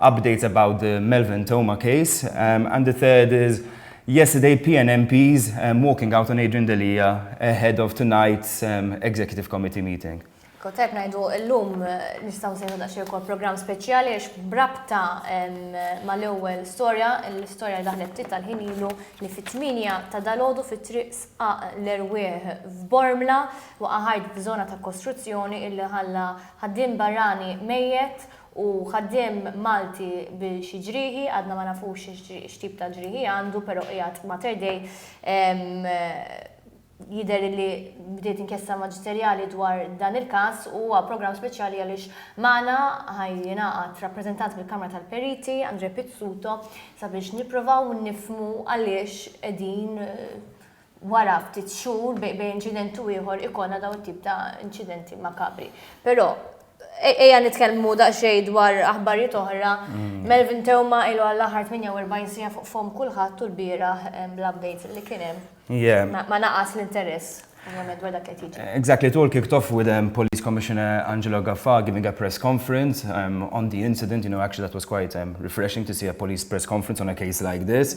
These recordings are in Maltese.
Updates about the Melvin Theuma case and the third is yesterday PN MPs walking out on Adrian Delia ahead of tonight's Executive Committee meeting. Kont qed ngħidu llum nistgħu nsejħu daqsxejn ukoll programm speċjali għax b'rabta mal-ewwel storja, l-istorja li daħlet ftit tal-ħin ilu li fit-tmienja ta' dalgħodu fi Triq Sqaq l-Erwieħ f'Bormla waqa' ħajt f'żona ta' kostruzzjoni illi ħalla ħaddiem barrani mejjet U ħaddiem Malti bi xi ġrieħi, għadna ma nafux x'tip ta' ġrieħi għandu, però qiegħed Mater Dei. Jidher li bdiet inkjesta maġisterjali dwar dan il-każ u huwa programm speċjali għaliex magħna ħa jingħaqad rappreżentant mill-Kamra tal-Periti, Andrè Pizzuto, sabiex nipprovaw nifhmu għaliex qegħdin wara ftit xhur bejn inċident u ieħor ikollna dawn it-tip ta' inċidenti makabri. Però ejja nitkellmu daqsxejn dwar aħbarijiet oħra. Melvin Theuma ilu għall-aħħar 48 siegħa fuq fomm kulħadd u lbieraħ bl-updates li kien hemm ma naqas l-interess ovvjament dwar dak li qed jiġi. Exactly, it all kicked off with Police Commissioner Angelo Gaffà giving a press conference on the incident, you know actually that was quite refreshing to see a police press conference on a case like this.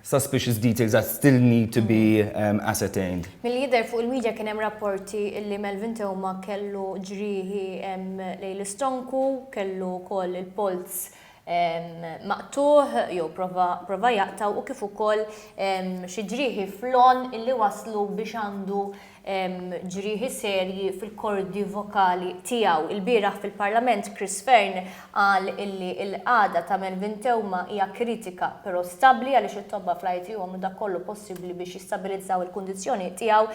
Suspicious details that still need to be ascertained. Milli jidher fuq il-media kien hemm rapporti illi Melvin Theuma kellu ġrieħi lejn l-istonku, kellu wkoll il-polz maqtugħ jew prova jaqtgħu u kif ukoll xi ġrieħi fl-għonq illi wasslu biex għandu ġrieħi serji fil-kordi vokali tiegħu. Ilbieraħ fil-Parlament Chris Fearne qal illi l-qagħda ta' Melvin Theuma hija kritika però stabbli għaliex it-tobba fl-ITU għamlu dak kollu possibbli biex jistabilizzaw il-kundizzjoni tiegħu.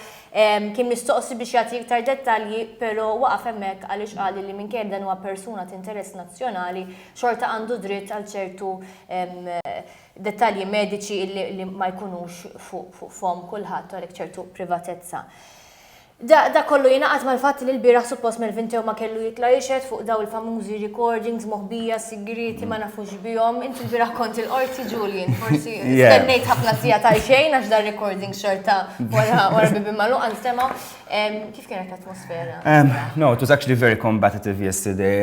Kien mistoqsi biex jagħti iktar dettalji però waqaf hemmhekk għaliex qal illi minkejja li dan huwa persuna t'interess nazzjonali xorta għandu dritt għal ċertu dettalji mediċi li ma jkunux fuq fomm kulħadd u għalhekk ċertu privatezza. Dak kollu jingħaqad mal-fatt li l-bieraħ suppost Melvin Theuma kellu jitla' jixhed fuq dawn il-famużi recordings moħbija sigrieti ma nafux bihom. Int il-bieraħ kont il-Qorti Julian, forsi stennejt ħafna sigħat għal xejn għax dan recording xorta wara bibien magħluqa nstema'. Kif kienet l-atmosfera? No, it was actually very combative yesterday.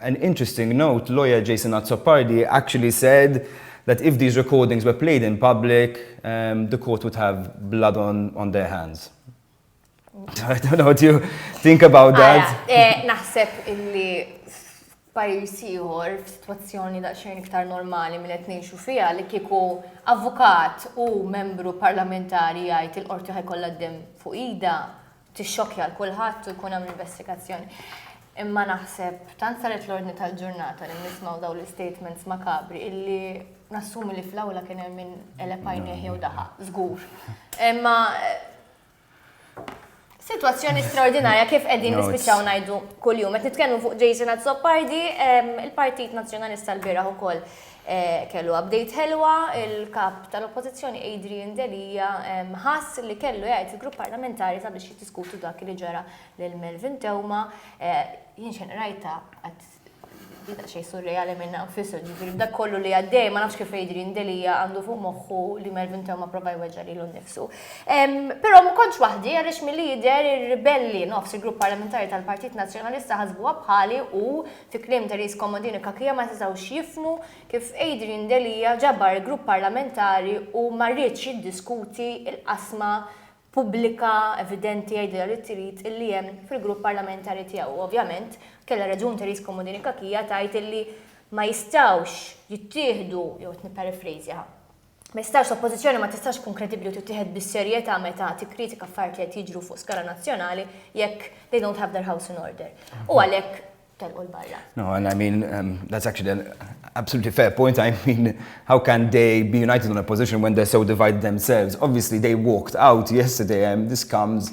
An interesting note, lawyer Jason Azzopardi actually said that if these recordings were played in public, the court would have blood on on their hands. I don't know, do you think about that? Eh, naħseb illi pajis ieħor f'sitwazzjoni daqsxejn iktar normali minn qed ngħixu fiha li kieku avukat u membru parlamentari jgħid il-qorti ħajkollha d-dem fuq ida, tixxokkja l kulħadd u jkun hemm investigazzjoni. Imma naħseb tant saret l-ordni tal-ġurnata li nismaw daw l-statements makabri illi nassumi li fl-awla kien hemm minn elepajni jew daħa, żgur. Imma eh, Situazzjoni straordinarja kif qegħdin nispiċċaw ngħidu kuljum. Qed nitkellmu fuq Jason Azzopardi, il-Partit Nazzjonalista l-bieraħ ukoll Kellu update ħelwa, il-Kap tal-Oppożizzjoni Adrian Delia ħass li kellu jgħid fil-Grupp Parlamentari sabiex jiddiskutu dak li ġara lil Melvin Theuma. Jien xejn qrajtha għad hi daqsxejn surreali minnha nfisha, ġifieri b'dak kollu li għaddej ma nafx kif Adrian Delia għandu fuq moħħu li Melvin Theuma prova jweġġa' lilu nnifsu. Però ma kontx waħdi għaliex milli jidher ir-ribelli nofs il-Grupp Parlamentari tal-Partit Nazzjonalista ħasbuha bħali u Fi kliem Therese Comodini Cachia ma setgħux jifhmu kif Adrian Delia ġabar il-grupp parlamentari u ma riedx jiddiskuti l-qasma pubblika evidenti għidilha li trid li hemm fil-grupp parlamentari tiegħu. Ovvjament kellha raġun Therese Comodini Cachia tgħid li ma jistgħux jittieħdu, jew qed nipparifrejżja, Ma jistax, l-Oppożizzjoni ma tistax tkun kredibbli u tittieħed bis-serjetà meta tikkritika affarijiet li qed jiġru fuq skala nazzjonali jekk they don't have their house in order. U għalhekk telqu l-barra. No, and I mean, um, that's actually an absolutely fair point. I mean, how can they be united on a position when they're so divided themselves? Obviously, they walked out yesterday, and this comes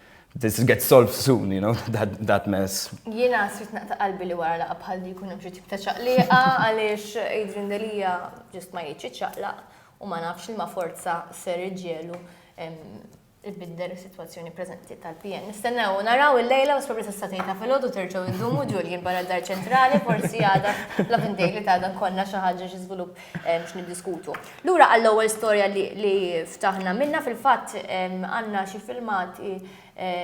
This gets solved soon, you know, that, that mess. Jena srit naqta qalbi li wara laqa bħal di kun xi tip ta' ċaqliqa għaliex Adrian Delia ġust ma jridx ċaqlaq u ma nafx li ma forza ser iġġelu il-bidder is-sitwazzjoni preżenti tal-PN. Nistennew naraw il-lejla u s-sorpresa statejta fil-ħodu terġgħu jdumu Julian barra dar ċentrali forsi għada la bindejli ta' għada konna xi ħaġa xi żvilupp x'niddiskutu. Lura għall-ewwel storja li ftaħna minnha, fil-fatt għandna xi filmati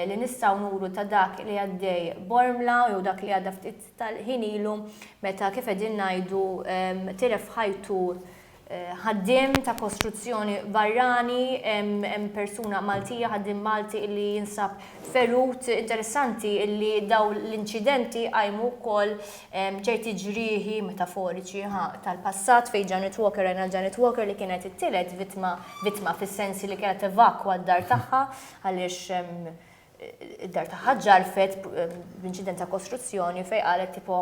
li nistgħu nuru ta' dak li għaddej Bormla jew dak li għadda ftit tal-ħin ilu meta kif qegħdin ngħidu tilef ħajtu ħaddiem ta' kostruzzjoni barrani, hemm persuna Maltija, ħaddiem Malti illi jinsab ferut. Interessanti illi dawn l-inċidenti jqajmu wkoll Hemm ċerti ġrieħi metaforiċi, ha, tal-passat fejn Janet Walker rajna l-Janet Walker li kienet it-tielet vittma, vittma fis-sens li kienet evakwa d-dar tagħha għaliex id-dar tagħha ġarfet b'inċident ta' kostruzzjoni fejn qalet tipo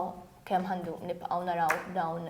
kemm ħandu nibqgħu naraw dawn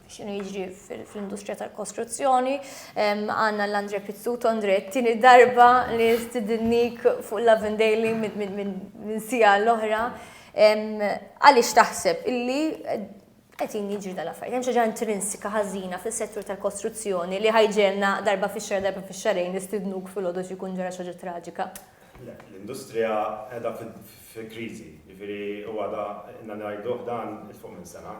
xinu jiġri fl-industrija tal-kostruzzjoni. Għanna l-Andre Pizzut, Andre, tini darba li stidinnik fuq Love Daily minn sija l-oħra. Għalix taħseb illi għetin jiġri dal-affarijiet. Hemm xaġa intrinsika ħażina fis-settur tal-kostruzzjoni li ħajġelna darba fix-xar darba fix-xarejn nistidnuk fil-għodu xi jkun ġara xaġa traġika. L-industrija qiegħda fi kriżi. Jiġifieri u għadha ilna ngħiduh dan 'il fuq minn sena.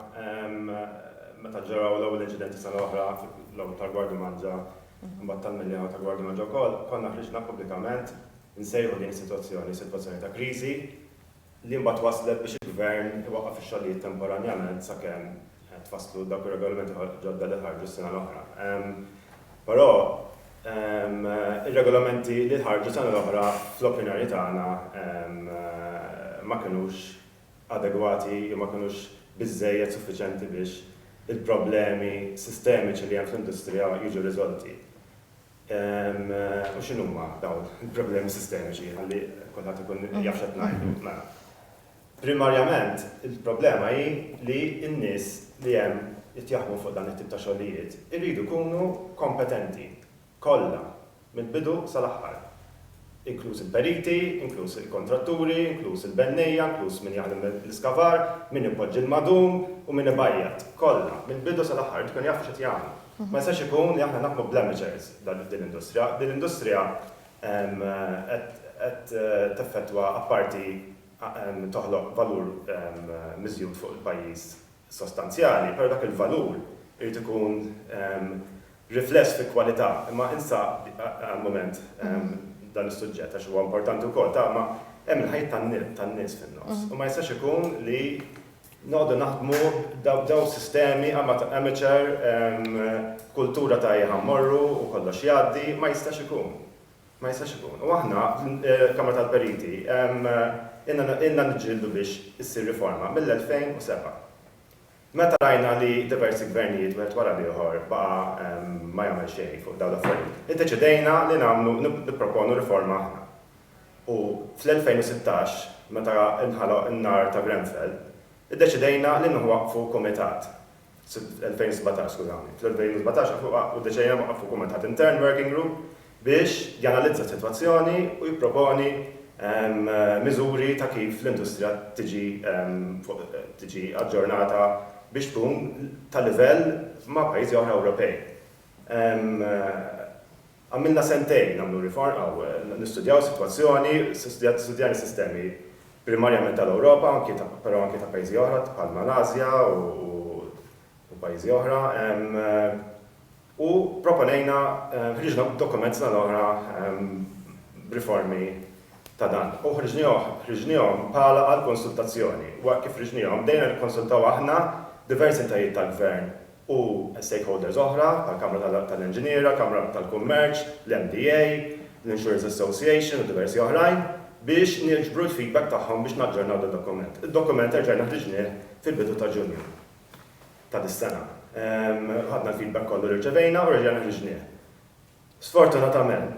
Meta ġraw l-ewwel inċidenti sena l-oħra l-ewwel tal-Gwardji Manġa mbagħad tal-Miljana u tal-Gwardji Manġa wkoll, konna ħriġna pubblikament insejħu din is-sitwazzjoni sitwazzjoni ta' kriżi li mbagħad wasslet biex il-Gvern iwaqqaf ix-xogħlijiet temporanjament sakemm qed tfasslu dawk ir-regolamenti ġodda li ħarġu s-sena l-oħra. Però ir-regolamenti li ħarġu s-sena l-oħra fl-opinjoni tagħna ma kinux adegwati jew ma kinux biżżejjed suffiċjenti biex il-problemi sistemiċi li hemm fl-industrija jiġu riżolti. U x'inhuma dawn il-problemi sistemiċi ħalli kulħadd ikun jaf x'qed ngħidu. Primarjament, il-problema hi li n-nies li hemm qed jaħdmu fuq dan it-tip ta' xogħlijiet iridu jkunu kompetenti, kollha, mill-bidu sal-aħħar, inkluż il-periti, inkluż il-kontratturi, inkluż il-bennejja, inkluż min jaħdem l-iskavar, min ipoġġi l-madum u min ibajjat, kollha, mill-bidu sal-aħħar, irid ikun jafu x'qed jagħmlu. Ma jistax ikun li aħna naħdmu bl-amateurs f'din l-industrija. Din l-industrija qed teffettwa apparti toħloq valur miżjud fuq il-pajjiż sostanzjali, però dak il-valur irid ikun rifless fi kwalità. Imma insa għal mument dan is-suġġett għax huwa importanti wkoll ta' imma hemm il-ħajjiet tan-nies fin-nofs u ma jistax ikun li Noqogħdu naħdmu dawn sistemi amateur b'kultura ta' ejja ħa mmorru u kollox jgħaddi, ma jistax ikun. Ma jistax ikun. U aħna, Kamra tal-Periti, ilna niġġieldu biex issir riforma mill-2007. Meta rajna li diversi gvernijiet wieħed wara l-ieħor baqa' ma jagħmel xejn fuq dawn l-affarijiet, iddeċidejna li nagħmlu, nipproponu riforma aħna. u fl-2016, meta nħaloq in-nar ta' Grenfell, iddeċidejna li nwaqqfu kumitat, fl-2017, skużawni, fl-2017 nwaqqfu, iddeċidejna li nwaqqfu kumitat intern, working group, biex janalizza s-sitwazzjoni u jipproponi miżuri ta' kif l-industrija tiġi tiġi aġġornata biex tkun ta' livell ma' pajjiżi oħra Ewropej. Għamilna sentejn nagħmlu riform, aw, nistudjaw is-sitwazzjoni, studjat, studjajna s-sistemi primarjament tal-Ewropa, anki ta', però anki ta' pajjiżi oħra bħall-Malasja u, u pajjiżi oħra, ehm, u pproponejna, ħriġna b'dokument sena l-oħra, ehm, b'riformi ta' dan. U ħriġniehom, ħriġniehom bħala għall-konsultazzjoni. Waqt kif ħriġniehom, bdejna nikkonsultaw aħna diversi entitajiet tal-gvern u stakeholders oħra, bħall-Kamra tal-Inġiniera, Kamra tal-Kummerċ, l-MDA, l-Insurers Association u diversi oħrajn, biex niġbru l-feedback tagħhom biex naġġornaw dad-dokument. Id-dokument erġajna ħriġnieh fil-bidu ta' Ġunju ta' dis-sena. Ħadna l-feedback kollu li rċevejna u reġajna ħriġnieh. Sfortunatament,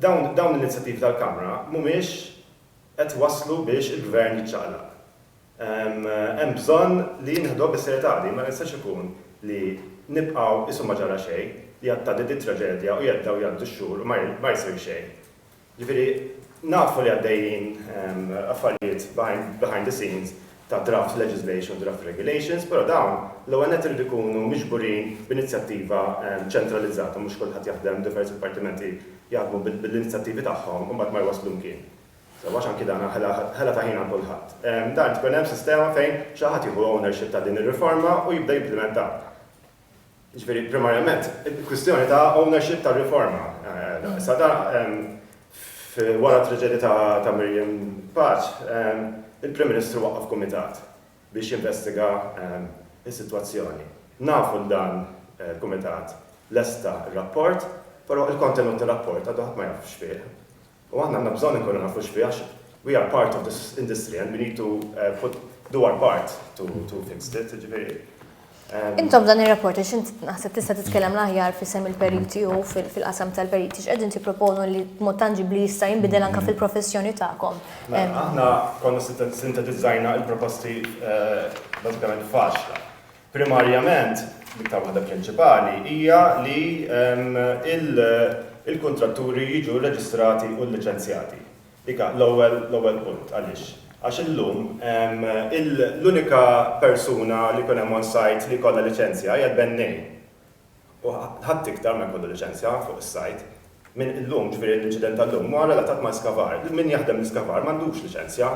dawn l-inizjattivi tal-Kamra mhumiex qed iwasslu biex il-Gvern jiċċaqlaq. Hemm bżonn li nieħduha bis-serjetà din, ma jistax ikun li nibqgħu isu ma ġara xejn, li għad tgħaddi dit-traġedja u jgħaddew jgħaddu x-xhur u ma jsir xejn. Ġifieri, nafu li għaddejjin affarijiet behind the scenes ta' draft legislation, draft regulations, però dawn l-ewwel nett iridu jkunu miġburin b'inizjattiva ċentralizzata, mhux kulħadd jaħdem, diversi dipartimenti jaħdmu bil-inizjattivi tagħhom u mbagħad ma jwasslu mkien. Sewwa x'anki dan hu ħela ta' ħin għal kulħadd. Dan tkun hemm sistema fejn xi ħadd jieħu ownership ta' din ir-riforma u jibda jimplimentha. Jiġifieri primarjament kwistjoni ta' ownership tar-riforma. Issa da wara t-traġedja ta' Miriam Paċ il-Prim Ministru waqqaf kumitat biex jinvestiga s-sitwazzjoni. Nafu li dan il-kumitat lesta r-rapport, però l-kontenut tar-rapport għadu ħadd ma jaf x'fih. U aħna għandna bżonn inkunu nafu x'fiha għax we are part of this industry and we need to put, do our part to to fix it, jiġifieri. Intom dan ir-rapport għax int naħseb tista' titkellem l-aħjar f'isem il-periti u fil-qasam tal-periti x'qegħdin tipproponu li b'mod tanġibbli jista' jinbidel anke fil-professjoni tagħkom? Aħna konna sintetizzajna l-proposti bażikament f'għaxra. Primarjament, l-iktar waħda prinċipali hija li l-kuntratturi jiġu rreġistrati u lliċenzjati. Dik hi l-ewwel punt. Għaliex? Għax illum l-unika persuna li jkun hemm on-site li jkollha liċenzja hija l-bennej. u ħadd iktar ma jkollu liċenzja fuq is-sajd minn illum, ġifieri l-inċident ta' llum huwa relatat mal-iskavar. Min jaħdem l-iskavar m'għandux liċenzja.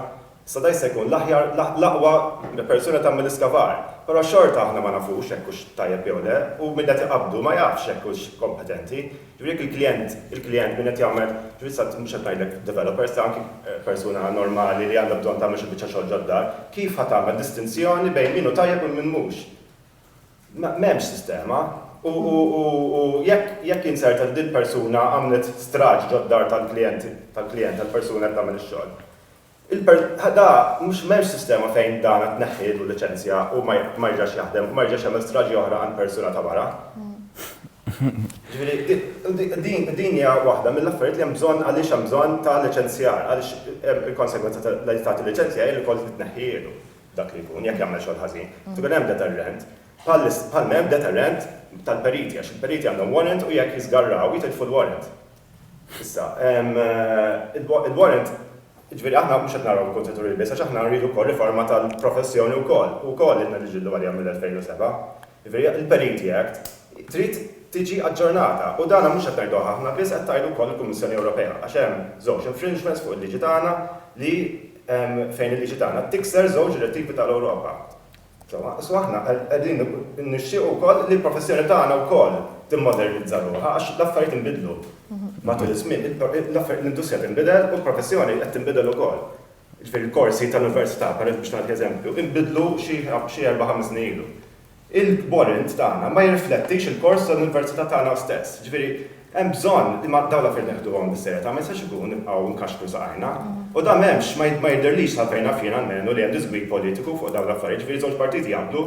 Issa dan jista' jkun l-aħjar, l-aqwa persuna tagħmel l-iskavar, però xorta aħna ma nafux jekk hux tajjeb jew le u min qed iqabbdu ma jafx jekk hux kompetenti. Ġifieri jekk il-klijent, il-klijent min qed jagħmel, ġifieri issa mhux qed ngħidlek developer, issa anki persuna normali li għandha bżonn tagħmel xi biċċa xogħol ġod-dar, kif ħa tagħmel distinzjoni bejn min hu tajjeb u min mhux? M'hemmx sistema u jekk jinzerta li dil-persuna għamlet straġ ġod-dar tal-klijent, tal-klijent, tal-persuna qed tagħmel ix-xogħol. Il-per, da mhux m'hemmx sistema fejn dan għad tneħħielu l-liċenzja u ma ma jerġax jaħdem u ma jerġax jagħmel straġi oħra għand persuna ta' wara. Jiġifieri di, din, din hija waħda mill-affarijiet li hemm bżonn għaliex hemm bżonn ta' liċenzjar, għaliex il-konsegwenza ta' li tagħti liċenzja hi li wkoll li tneħħielu. dak li jkun, jekk jagħmel xogħol ħażin, irid ikun hemm deterrent, bħal m'hemm deterrent tal-periti, għax il-periti għandhom warrant u jekk jiżgarraw jitilfu l-warrant. Issa, il-warrant, jiġifieri aħna mhux qed naraw il-kuntratturi biss għax aħna rridu wkoll riforma tal-professjoni wkoll, u wkoll ilna niġġieldu għaliha mill-2007. Jiġifieri, il-Peniti Act trid tiġi aġġornata u dan mhux qed ngħiduh aħna biss, qed tgħidu wkoll il-Kummissjoni Ewropea għax hemm żewġ infringements fuq il-liġi tagħna li fejn il-liġi tagħna tikser żewġ direttivi tal-Ewropa. Insomma, so aħna qegħdin nixtiequ wkoll li l-professjoni tagħna wkoll timmodernizza ruħha għax l-affarijiet inbidlu matul iż-żmien, l-industrija tinbidel u l-professjoni qed tinbidel ukoll. jiġifieri l-korsi tal-università, pereż biex nagħti eżempju, inbidlu xi xi erba' ħames snin ilu. Il-kborint tagħna ma jirriflettix il-kors tal-università tagħna stess. Jiġifieri hemm bżonn li ma dawn l-affarijiet neħduhom bis-serjetà, ma jistax ikun nibqgħu nkaxkru saqajna. U dan m'hemmx, ma jidhirlix sa fejn naf jien almenu li hemm diżgwid politiku fuq dawn l-affarijiet, jiġifieri żewġ partiti jaqblu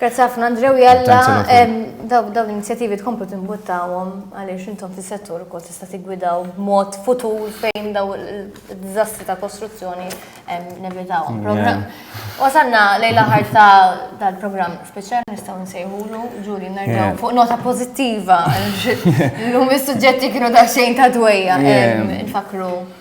Grazzi ħafna Andrew Jalla, daw daw l-inizjativi tkomplu timbuttawhom għaliex intom fis-settur ukoll tista' tiggwidaw b'mod futur fejn daw id-diżastri ta' kostruzzjoni nevitawhom. Programm. Wasanna lejn l-aħħar ta' dal-programm speċjali nistgħu nsejħulu ġuri nerġgħu fuq nota pożittiva. Llum is-suġġetti kienu daqsxejn ta' dwejja nfakru.